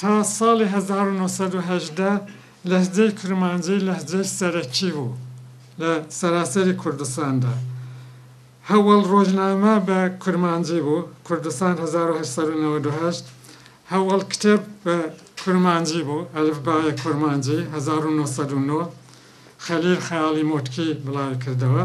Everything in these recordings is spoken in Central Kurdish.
تا ساڵی هەزار و نۆ سەد و هەژدە لەهجەی کرمانجی لەهجەی سەرەکی بوو لە سەراسەری کوردستاندا. هەوەڵ ڕۆژنامە بە کرمانجی بوو، کوردستان هەزار و هەشت سەد و نەوەد و هەشت، هەوەڵ کتێب بە کرمانجی بوو، ئەلفبای کرمانجی، هەزار و نۆ سەد و نۆ، خەلیل خەیاڵی مۆتکی بڵاوی کردەوە.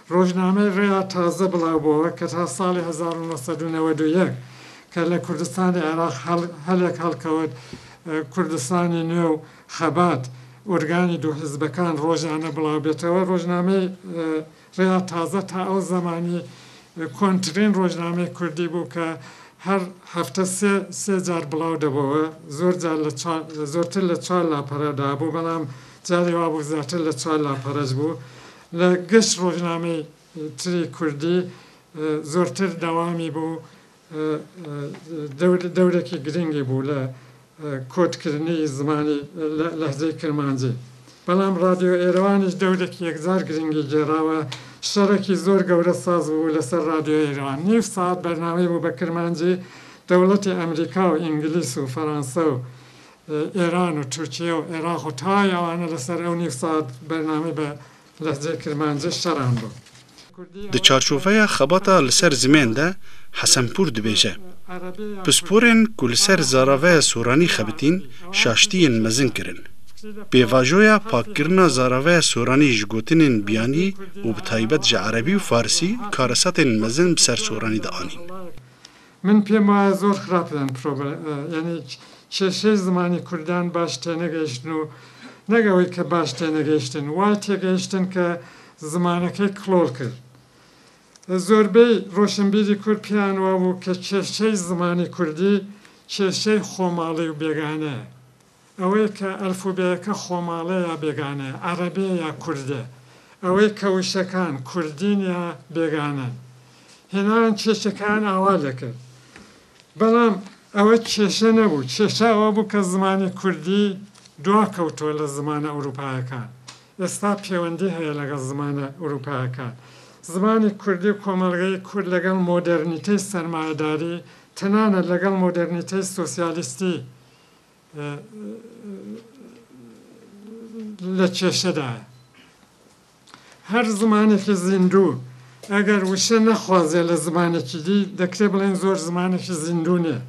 ڕۆژنامەی ڕێیا تازە بڵاوبۆوە کە تا ساڵی هەزار و نۆ سەد و نەوەد و یەک کە لە کوردستانی عێراق هەلێک هەڵکەوت کوردستانی نوێ و خەبات ئورگانی دوو حیزبەکان ڕۆژانە بڵاوبێتەوە ڕۆژنامەی ڕێیا تازە تا ئەو زەمانی کۆنترین ڕۆژنامەی کوردی بوو کە هەر هەفتە سێ سێ جار بڵاو دەبۆوە زۆر جار لە چا زۆرتر لە چوار لاپەرە دابوو بەڵام جارێ وابوو زیاتر لە چوار لاپەرەش بوو لە گشت ڕۆژنامەی تری کوردی زۆرتر دەوامی بوو دەورێکی گرنگی بوو لە کۆت کردنی زمانی لەهجەی کرمانجی بەڵام ڕادیۆ ئێرەوانیش دەورێکی یەکجار گرنگی گێڕاوە شەڕێکی زۆر گەورە ساز بوو لەسەر ڕادیۆ ئێرەوان نیو ساعەت بەرنامەی بوو بە کرمانجی دەوڵەتی ئەمریکا و ئینگلیس و فەرانسە و ئێران و تورکیە و عێراق و تای ئەوانە لەسەر ئەو نیو سات بەرنامەی بە لەهجەی کرمانجی شەران بۆ کوردی دە چارچوفەیا خەباتا لە سەر زمێن دە حەسەنپوور دبێژە، پسپۆرێن کو لە سەر زاراڤەیا سۆرانی خەبتین شاشتییێن مەزن کرن. پێڤاژۆیا پاک کرنا زاراڤەیا سۆرانی ژ گۆتنێن بیانی و بە تایبەت ژە عەرەبی و فارسی کارەساتێن مەزن بسەر سۆرانی دە ئانین. من پێم وایە زۆر خراپ لەن پرۆبلە یانی کێشەی زمانی کوردان باش تێنەگەیشتن و نەک ئەوەی کە باش تێنەگەیشتن وا تێگەیشتن کە زمانەکەی کڵۆڵ کرد زۆربەی ڕۆشنبیری کورد پێیان وابوو کە کێشەی زمانی کوردی کێشەی خۆماڵی و بێگانەیە. ئەوەی کە ئەلفوبێیەکە خۆماڵێ یا بێگانەیە، عەرەبێ یا کوردێ، ئەوەی کە وشەکان کوردین یا بێگانەن. هێنایان کێشەکەیان ئاوا دەکرد. بەڵام ئەوە کێشە نەبوو، کێشە ئەوە بوو کە زمانی کوردی دوا کەوتووە لە زمانە ئورووپایەکان. ئێستا پێوەندی هەیە لەگەڵ زمانە ئورووپایەکان. زمانی کوردی و کۆمەڵگەی کورد لەگەڵ مۆدێرنیتەی سەرمایەداری، تەنانەت لەگەڵ مۆدێرنیتەی سۆسیالیستی، لە کێشەدایە. هەر زمانێکی زیندوو ئەگەر وشە نەخوازێ لە زمانێکی دی، دەکرێ بڵێین زۆر زمانێکی زیندوو نییە.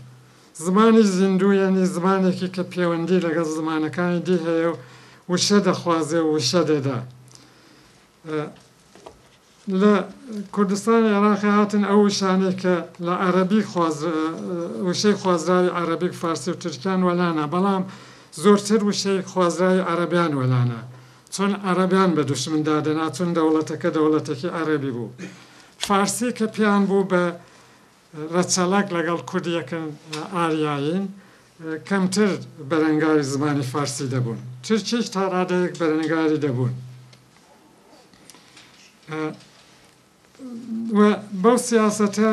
زمانی زیندوو یانی زمانێکی کە پێوەندی لەگەڵ زمانەکانی دی هەیە و وشە دەخوازێ و وشە دەدا. لە کوردستانی عێراقی هاتن ئەو وشانەی کە لە عەرەبیک وشەی خوازراوی عەرەبیک فارسی و تورکیان وەلانا بەڵام زۆرتر وشەی خوازراوی عەرەبیان وەلانا چۆن عەرەبیان بە دوشمن دادەنا چون دەوڵەتەکە دەوڵەتەکی عەرەبی بوو فارسی کە پێیان بوو بە رەچەڵەک لەگەڵ کورد یەکن ئاریایین کەمتر بەرەنگاری زمانی فارسی دەبوون تورکیش تا رادەیەک بەرەنگاری دەبوون. و بەو سیاسەتە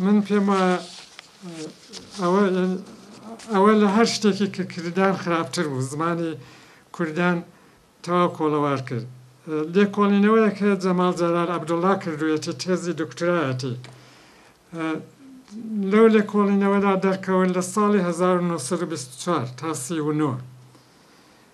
من پێم وایە ئەوە ئەوە لە هەر شتێکی کە کردان خراپتر بوو زمانی کوردان تەواو کۆڵەوار کرد لێکۆڵینەوەیە کە جەماڵ جەلال عەبدوڵڵا کردوێتی تێزی دکترایەتی لەو لێکۆڵینەوەدا دەرکەوت لە ساڵی 1924 تا 39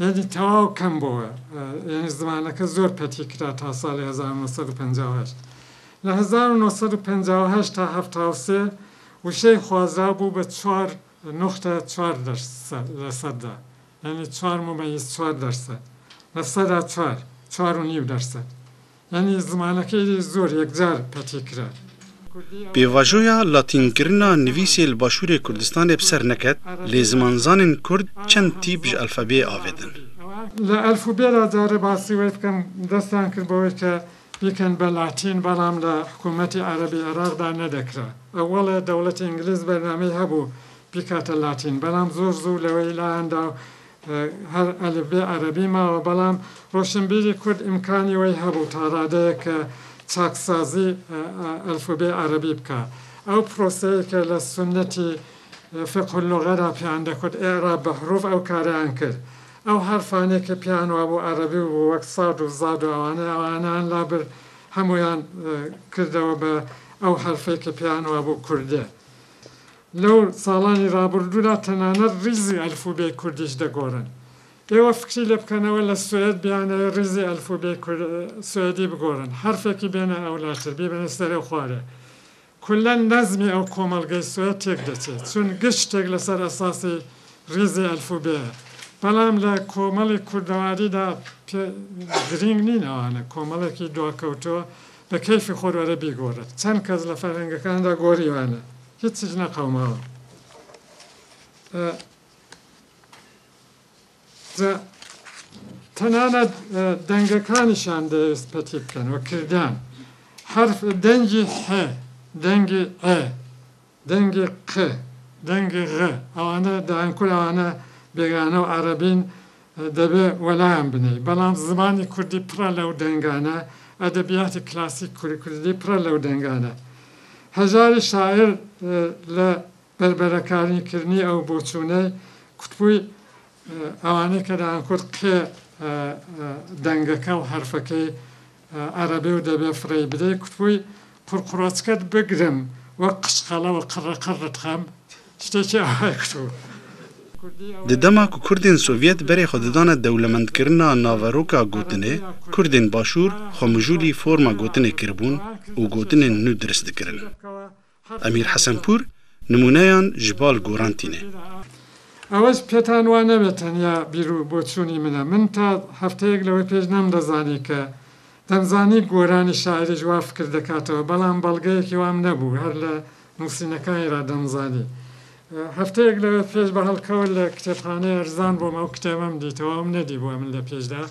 یەعنی تەواو کەم بۆوە یەعنی زمانەکە زۆر پەتی کرا تا ساڵی هەزار و نۆ سەد و پەنجا و هەشت لە هەزار و نۆ سەد و پەنجا و هەشت تا حەفتا و سێ وشەی خوازراو بوو بە چوار نوختە چوار دەرسە لە سەددا یەعنی چوار مومەیز چوار دەرسە لە سەدا چوار چوار و نیو دەرسە یانی زمانەکەی لێ زۆر یەکجار پەتی کرا. پێواژۆیا لاتین گرنا نڤیسێ لە باشوورێ کوردستانێ بسەر نەکەت، لێ زمانزانێن کورد چەن تیپ ژە ئەلفەبێێ ئاڤدن. لە ئەلفوبێ را جارێ باسی وەی بکەم، دەستیان کرد بەوەی کە بیکەن بە لاتین، بەڵام لە حکوومەتی عەرەبی عێراق دا نەدەکرا. ئەوەڵێ دەوڵەتی ئینگلیز بەرنامەی هەبوو بیکاتە لاتین، بەڵام زۆر زوو لەوەی لایان دا و هەر ئەلفبێ عەرەبی ماوە بەڵام ڕۆشنبیری کورد ئیمکانی وەی هەبوو تا ڕادەیەک کە چاکسازی ئەلفوبێی عەرەبی بکا ئەو پرۆسەیەی کە لە سوننەتی فقه اللغە دا پێیان دەکوت ئیعراب بە حروف ئەو کارەیان کرد ئەو حەرفانەی کە پێیان وابوو عەرەبی بوو وەک صاد و ضاد و ئەوانە ئەوانەیان لابرد هەموویان کردەوە بە ئەو حەرفەی کە پێیان وابوو کوردیە لەو ساڵانی ڕابڕدوودا تەنانەت ڕیزی ئەلفوبێی کوردیش دەگۆڕن. ئێوە فکری لێ بکەنەوە لە سوێد بیانەوێ ڕیزی ئەلفوبێی کور سوێدی بگۆڕن، حەرفێکی بێنە ئەولاتر، بیبەنە سەرێ و خوارێ. کوللەن نەزمی ئەو کۆمەڵگەی سوێد تێک دەچێ، چون گشت شتێک لە سەر ئەساسی ڕیزی ئەلفوبێیە. بەڵام لە کۆمەڵی کوردەواریدا پێ گرینگ نین ئەوانە، کۆمەڵێکی دواکەوتووە بە کەیفی خۆر وەرە بیگۆڕێ. چەن کەس لە فەرهەنگەکاندا گۆڕیوانە. هیچ چیژ نەقەوماوە جا تەنانەت دەنگەکانیشان دەوێست پەتی بکەن و کردان حرف دەنگی ح دەنگی ئە دەنگی ق دەنگی غ ئەوانە دەیانکول ئەوانە بێگانە و عەرەبین دەبێ وەلایان بنێی بەڵام زمانی کوردی پڕە لەو دەنگانە ئەدەبیاتی کلاسیک کوردی پڕە لەو دەنگانە هەژاری شاعیر لە بەربەرەکارنی کردنی ئەو بۆچوونەی کوتبووی ئەوانەی کە دەیانکوت قێ دەنگەکە و حەرفەکەی عەرەبێ و دەبێ فڕێی بدەی کوتبووی قوڕقوڕەچکەت بگرم وەک قشقەڵە و قڕ قڕت کەم شتێکی ئاوای کوتبوو. د دەما ک کوردێن سۆڤیەت بەرێ خۆ ددانە دەولەمەند کرنا ناڤەرۆکا گۆتنێ، کوردێن باشوور خۆ مژوولی فۆرما گۆتنێ کربوون و گۆتنێن نوو درس دکرن. ئەمیر حەسەنپوور نموونەیان ji بال گۆڕان تینێ. ئەوەش پێتان وا نەبێ تەنیا بیرو بۆچوونی منە، من تا هەفتەیەک لەوەی پێش نەمدەزانی کە دەمزانی گۆرانی شاعیریش وا فکر دەکاتەوە بەڵام بەڵگەیەکی وام نەبوو هەر لە نووسینەکانی را دەمزانی هەفتەیەک لەوەی پێش بە هەڵکەوت لە کتێبخانەی ئەرزان بۆم ئەو کتێبەم دیتەوە ئەوم نەدیبووە من لە پێشدا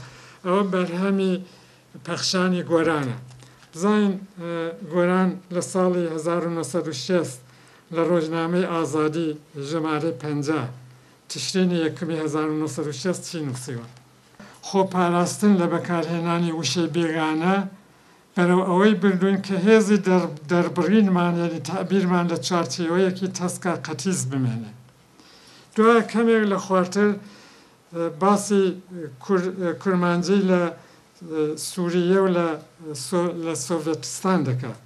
ئەوە بەرهەمی پەخشانی گۆرانە. بزانین گۆران لە ساڵی هەزار و نۆ سەد و شەست لە ڕۆژنامەی ئازادی ژمارەی پەنجا، تشرینی یەکەمی هەزار و نۆ سەد و شەست چی نووسیوە؟ خۆپاراستن لە بەکارهێنانی وشەی بێگانە بەرەو ئەوەی بردووین کە هێزی دەربڕینمان یەنی تەعبیرمان لە چوارچێوەیەکی تەسکە قەتیس بمێنێ. دوایە کەمێک لە خوارتر باسی کورمانجی لە سوریە و لە سۆڤێتستان دەکات.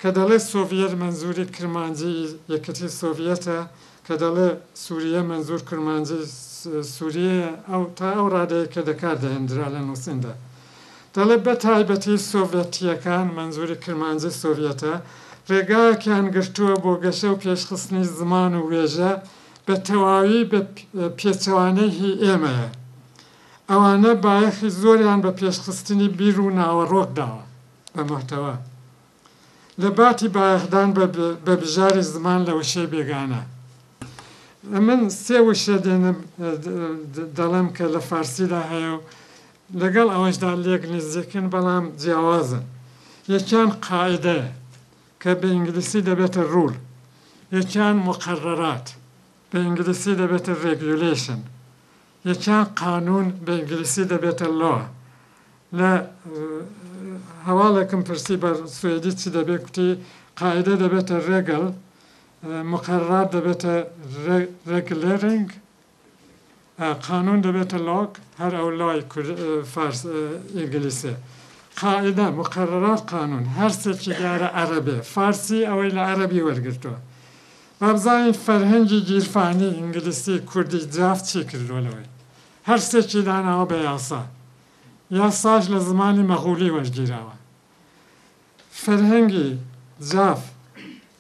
کە دەڵێ سۆڤیەت مەنزوری کرمانجی یەکێتی سۆڤیەتە، کە دەڵێ سوریە مەنزور کورمانجی سوریەیە تا ئەو ڕادەیەی کە دەکار دەهێندرا لە نووسیندا. دەڵێ بە تایبەتی سۆڤێتییەکان، مەنزوری کرمانجی سۆڤیەتە، ڕێگایەکیان گرتووە بۆ گەشە و پێشخستنی زمان و وێژە بە تەواوی بە پێچەوانەی هی ئێمەیە. ئەوانە بایەخی زۆریان بە پێشخستنی بیر و ناوەڕۆک داوە بە مەحتەوا. لە باتی بایەخدان بە بە بژاری زمان لە وشەی بێگانە. من سێ وشە دێنم دەڵێم کە لە فارسیدا هەیە و لەگەڵ ئەوەشدا لێک نزیکن بەڵام جیاوازن. یەکیان قاعیدەیە. کە بە ئینگلیسی دەبێتە ڕوول، یەکیان موقەڕەرات، بە ئینگلیسی دەبێتە ڕێگیولەیشن، یەکیان قانوون، بە ئینگلیسی دەبێتە ڵۆ. لە هەواڵێکم پرسی بە سوێدی چی دەبێ کوتی، قاعیدە دەبێتە ڕێگڵ، موقەڕەرات دەبێتە ڕێگلێرینگ، قانون دەبێتە لاک هەر ئەو لای کورد فارس ئینگلیسێ قائیدە مقەرەرات قانون هەر سێکی دیارە عەرەبێ فارسی ئەوەی لە عەرەبی وەرگرتوە با بزانین فەرهەنگی گیرفانی ئینگلیسی کوردی جاف چی کردوە لەوەی هەر سێکی داناوە بە یاسا یاساش لە زمانی مەغولی وەرگیراوە فەرهەنگی جاف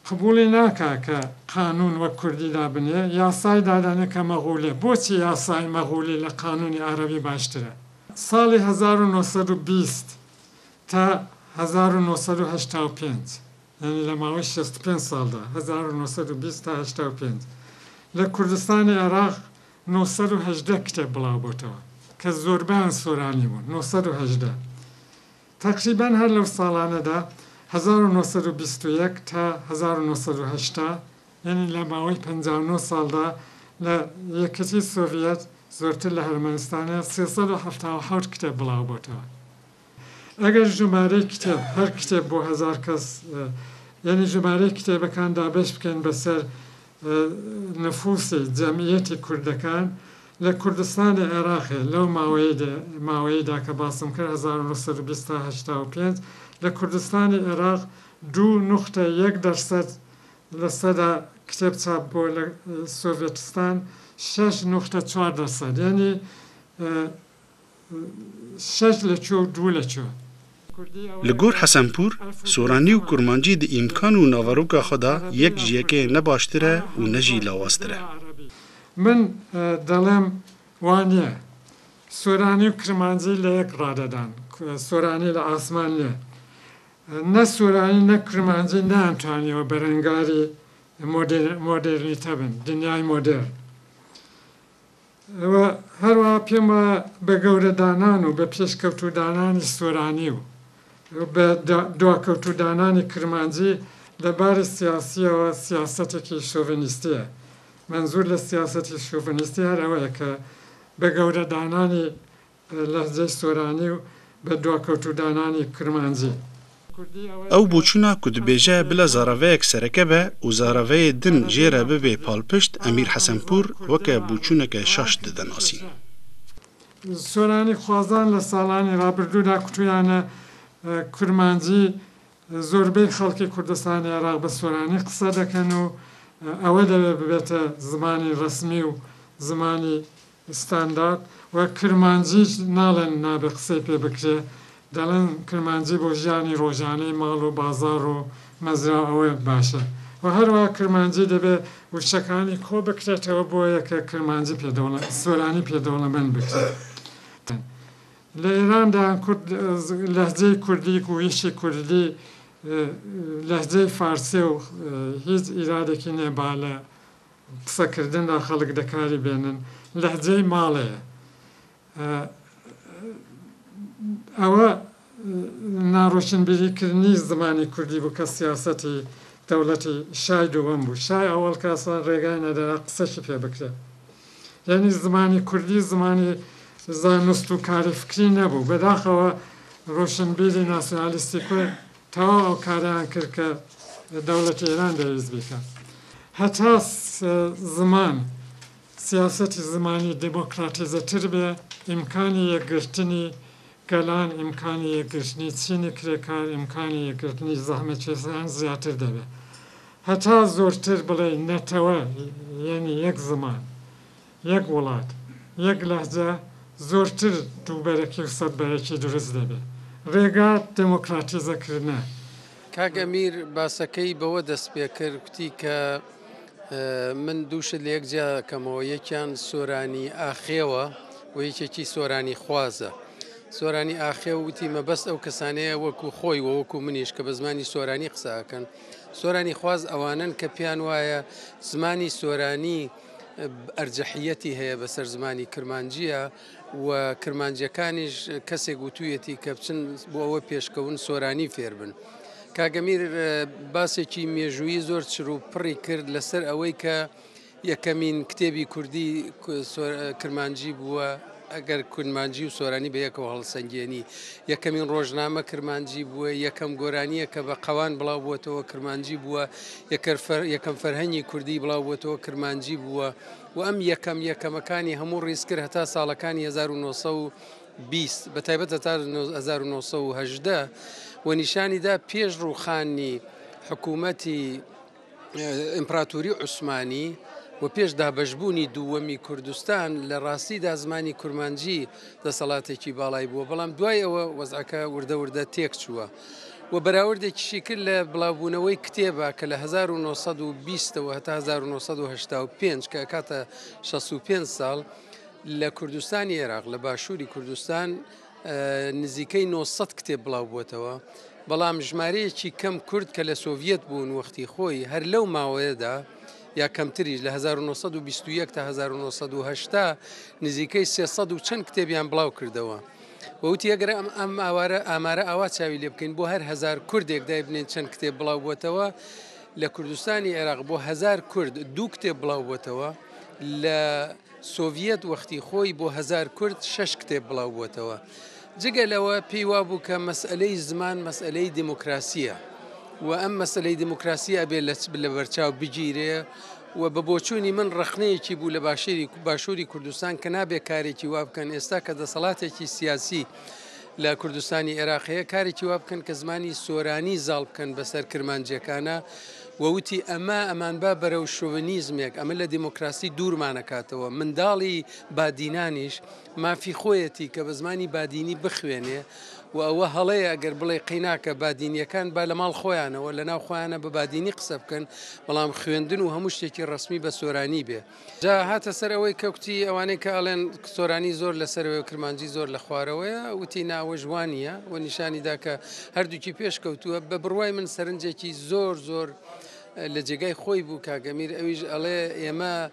قبوڵی ناکا کە قانون وەک کوردی دابنێ یاسای دادەنێ کە مەغولی بۆچی یاسای مەغولی لە قانونی عەرەبی باشترە ساڵی هەزار و نۆ سەد و بیست تا هەزار و نۆ سەد و هەشتا و پێنج یانی لە ماوەی شەست و پێنج ساڵدا هەزار و نۆ سەد و بیست تا هەشتا و پێنج لە کوردستانی عێراق نۆ سەد و هەژدە کتێب بڵاو بۆتەوە کە زۆربەیان سۆرانی بوون نۆ سەد و هەژدە تەقریبەن هەر لەو ساڵانەدا، هەزار و نۆ سەد و بیست و یەک تا هەزار و نۆ سەد و هەشتا، یەنی لە ماوەی پەنجا و نۆ ساڵدا، لە یەکێتیی سۆڤیەت زۆرتر لە هەرمەنستانە سێ سەد و حەفتا و حەوت کتێب بڵاو بۆتەوە. ئەگەر ژومارەی کتێب، هەر کتێب بۆ هەزار کەس، یەنی ژومارەی کتێبەکان دابەش بکەین بەسەر نفوسی، جەمعیەتی، کوردەکان لە کوردستانی عێراقێ لەو ماوەیەیدا کە باسم کرد هەزار و نۆ سەد و بیست تا هەشتا و پێنج لە کوردستانی عێراق دوو نوختە یەک دەرسەد لە سەدا کتێب چاپ بووە لە سۆڤێتستان شەش نوختە چوار دەرسەد یەنی شەش لە چۆ و دوو لە چۆ. لە گۆر حەسەنپوور، سۆرانی و کورمانجی دە ئیمکان و ناڤەرۆکا خۆ دا یەک ژ یەکەێ نە باشترە و نە ژی لاوازترە. من دەڵێم وا نیە. سۆرانی و کرمانجی لە یەک ڕادە دان. سۆرانی لە ئاسمان نیە. نە سۆرانی نە کرمانجی نەیانتوانیەوە بەرەنگاری مۆدێرنیتە بن، دنیای مۆدێرن. و هەروەها پێم وایە بە گەورەدانان و بە پێشکەوتوودانانی سۆرانی و بە دواکەوتوودانانی کرمانجی لە باری سیاسییەوە سیاسەتێکی شۆڤێنیستییە. مەنزوور لە سیاسەتی شۆڤێنیستی هەر ئەوەیە کە بە گەورەدانانی لەهجەی سۆرانی و بە دواکەوتوودانانی کرمانجی. ئەو بوچونا کوتبێژە بلە زاراڤەێگ سەرەکە بە و زاراڤەێ دن ژێرە ببێ پاڵپشت ئەمیر حەسەنپوور وەکە بوچوونەکە شاش ددەناسین. سۆرانی خوازان لە ساڵانی رابردوودا کوتویانە کرمانجی زۆربەی خەڵکی کوردستانی عێراق بە سۆرانی قسە دەکەن و ئەوە دەبێت ببێتە زمانی ڕەسمی و زمانی ستاندارد و کرمانجیش ناڵێن نابێت قسەی پێ بکرێت، دەڵێن کرمانجی بۆ ژیانی ڕۆژانەی ماڵ و بازاڕ و مەزرا و ئەوە باشە و هەروەها کرمانجی دەبێت وشەکانی کۆ بکرێتەوە بۆ یەکێک کرمانجی پێ دەوڵەمەند، سۆرانی پێ دەوڵەمەند بکرێت. لە ئێراندا کورد لەهجەی کوردی گوویشی کوردی لەهجەی فارسێ و هیچ ئیرادێکی نیە با لە قسە کردندا خەڵک دەکاری بێنن لەهجەی ماڵێیە ئەوە ناڕۆشنبیری کردنی زمانی کوردی بوو کە سیاسەتی دەوڵەتی شای دووەم بوو شای ئەوەڵ کە ئەسڵەن ڕێگای نەدەرا قسەشی پێ بکرێ. یەنی زمانی کوردی زمانی زانست و کاری فکری نەبوو، بەداخەوە رۆشنبیری ناسیونالیستی کورد تەواو ئەو کارەیان کرد کە دەوڵەتی ئێران دەیویست بیکا. هەتا زمان سیاسەتی زمانی دیمۆکراتیزەتر بێ ئیمکانی یەکگرتنی گەلان ئیمکانی یەکگرتنی چینی کرێکار ئیمکانی یەکگرتنی زەحمەتکێشان زیاتر دەبێت هەتا زۆرتر بڵێی نەتەوە یەنی یەک زمان یەک وڵات یەک لەهجە زۆرتر دووبەرەکی و سەد بەیەکی دروست دەبێت ڕێگا دێمۆکراتیزە کردنە. کاک ئەمیر باسەکەی بەوە دەست پێکرد کوتی کە من دووشت لە یەک جیا کەمەوە یەکیان سۆرانی ئاخێوە و یەکێکی سۆرانی خوازە سۆرانی ئاخێ وتی مەبەست ئەو کەسانەیە وەکو خۆی و وەکو منیش کە بە زمانی سۆرانی قساکەن سۆرانی خواز ئەوانن کە پێیان وایە زمانی سۆرانی ئەرجەحیەتی هەیە بەسەر زمانی کرمانجیە و کرمانجیەکانیش کەسێک وتویەتی کە بچن بۆ ئەوە پێشکەون سۆرانی فێربن کاگەمیر باسێکی مێژووی زۆر چرو پڕی کرد لەسەر ئەوەی کە یەکەمین کتێبی کوردی کرمانجی بووە ئەگەر کورمانجی و سۆرانی بە یەکەوە هەڵسەنگێنی یەکەمین ڕۆژنامە کرمانجی بووە یەکەم گۆرانیە کە بە قەوان بڵاو بووەتەوە کرمانجی بووە یەکەم فەرهەنگی کوردی بڵاو بووەتەوە کرمانجی بووە و ئەم یەکەم یەکەمەکانی هەموو ڕیزکرد هەتا ساڵەکانی هەزار و نۆ سەد و بیست بە تایبەت هەتا هەزار و نۆ سەد و هەژدە و نیشانی دا پێش ڕووخانی حکوومەتی ئیمپراتوری عوسمانی و پێش دابەشبوونی دووەمی کوردستان لە ڕاستیدا زمانی کورمانجی دەسەڵاتێکی باڵای بووە بەڵام دوای ئەوە وەزعەکە وردە وردە تێک چووە. و بەراوردێکیشی کرد لە بڵاوبوونەوەی کتێبە کە لە هەزار و نۆ سەد و بیست ەوە هەتا هەزار و نۆ سەد و هەشتا و پێنج کە ئەکاتە شەست و پێنج ساڵ لە کوردستانی عێراق لە باشووری کوردستان نزیکەی نۆ سەد کتێب بڵاوبووەتەوە بەڵام ژمارەیەکی کەم کورد کە لە سۆڤیەت بوون وەختی خۆی هەر لەو ماوەیەدا یا کەمتریش لە 1920 تا 1970 نزیکەی 300 و چەند کتێبیان بڵاو کردەوە. و وتی، ئەگەر ئەم ئامارە ئاوا چاوی لێ بکەین، بۆ هەر هەزار کوردێک دایبنێین چەند کتێب بڵاوبووەتەوە، لە کوردستانی عێراق بۆ هەزار کورد دوو کتێب بڵاوبووەتەوە، لە سۆڤیەت وەختی خۆی بۆ هەزار کورد شەش کتێب بڵاوبووەتەوە. جگە لەوە پێی وابوو کە مەسئەلەی زمان مەسئەلەی دیموکراسییە و ئەم مەسەلەی دیموکراسی ئەبێ لەبەرچاو بگیرێ، و بە بۆچوونی من ڕەخنەیەکی بوو لە باشووری باشووری کوردستان کە نابێ کارێکی وا بکەن ئێستا کە دەسەڵاتێکی سیاسی لە کوردستانی عێراق هەیە کارێکی وا بکەن کە زمانی سۆرانی زاڵ بکەن بەسەر کرمانجیەکانە ووتی ئەمە ئەمان با بەرەو شوونیزمێک ئەمە لە دیموکراسی دوورمانەکاتەوە منداڵی بادینانیش مافی خۆیەتی کە بە زمانی بادینی بخوێنێ و ئەوە هەڵەیە ئەگەر بڵێ قەیناکە بادینیەکان با لە ماڵ خۆیانەوە لە ناو خۆیانە بە بادینی قسە بکەن بەڵام خوێندن و هەموو شتێکی ڕسمی بە سۆرانی بێ جا هاتە سەر ئەوەی کەکوتی ئەوانەی کە ئەڵێن سۆرانی زۆر لە سەرەوەی و کرمانجی زۆر لە خوارەوەیە وتی ناوە ژوانە و نیشانی دا کە هەردووکی پێش کەوتووە بە بڕوای من سەرنجێکی زۆر زۆر لە جێگای خۆی بوو کاگەمیر ئەویش ئەڵێ ئێمە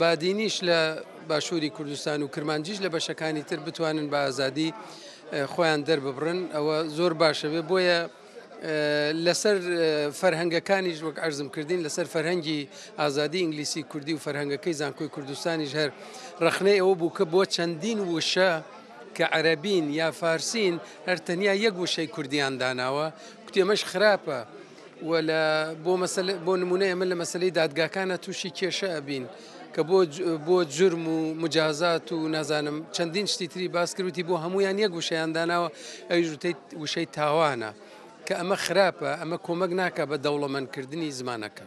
بادینیش لە باشووری کوردستان و کرمانجیش لە بەشەکانی تر بتوانن بە ئازادی خۆیان دەرببڕن ئەوە زۆر باشە بێ بۆیە لەسەر فەرهەنگەکانیش وەک ئەرزم کردین لەسەر فەرهەنگی ئازادی ئینگلیسی کوردی و فەرهەنگەکەی زانکۆی کوردستانیش هەر ڕخنەی ئەوە بوو کە بۆ چەندین وشە کە عەربین یا فارسین هەر تەنیا یەک وشەی کوردیان داناوە کوتێمەش خراپە. وە لە بۆ مەسەلە بۆ نمونە ئێمە لە مەسەلەی دادگاکانە تووشی کێشە ئەبین کە بۆ بۆ جرم و مجازات و نازانم چەندین شتی تری باسکروتی بۆ هەمویان یەک وشەیان داناوە ئەویش وتەی وشەی تاوانە کە ئەمە خراپە ئەمە کۆمەک ناکە بە دەوڵەمەندکردنی زمانەکە.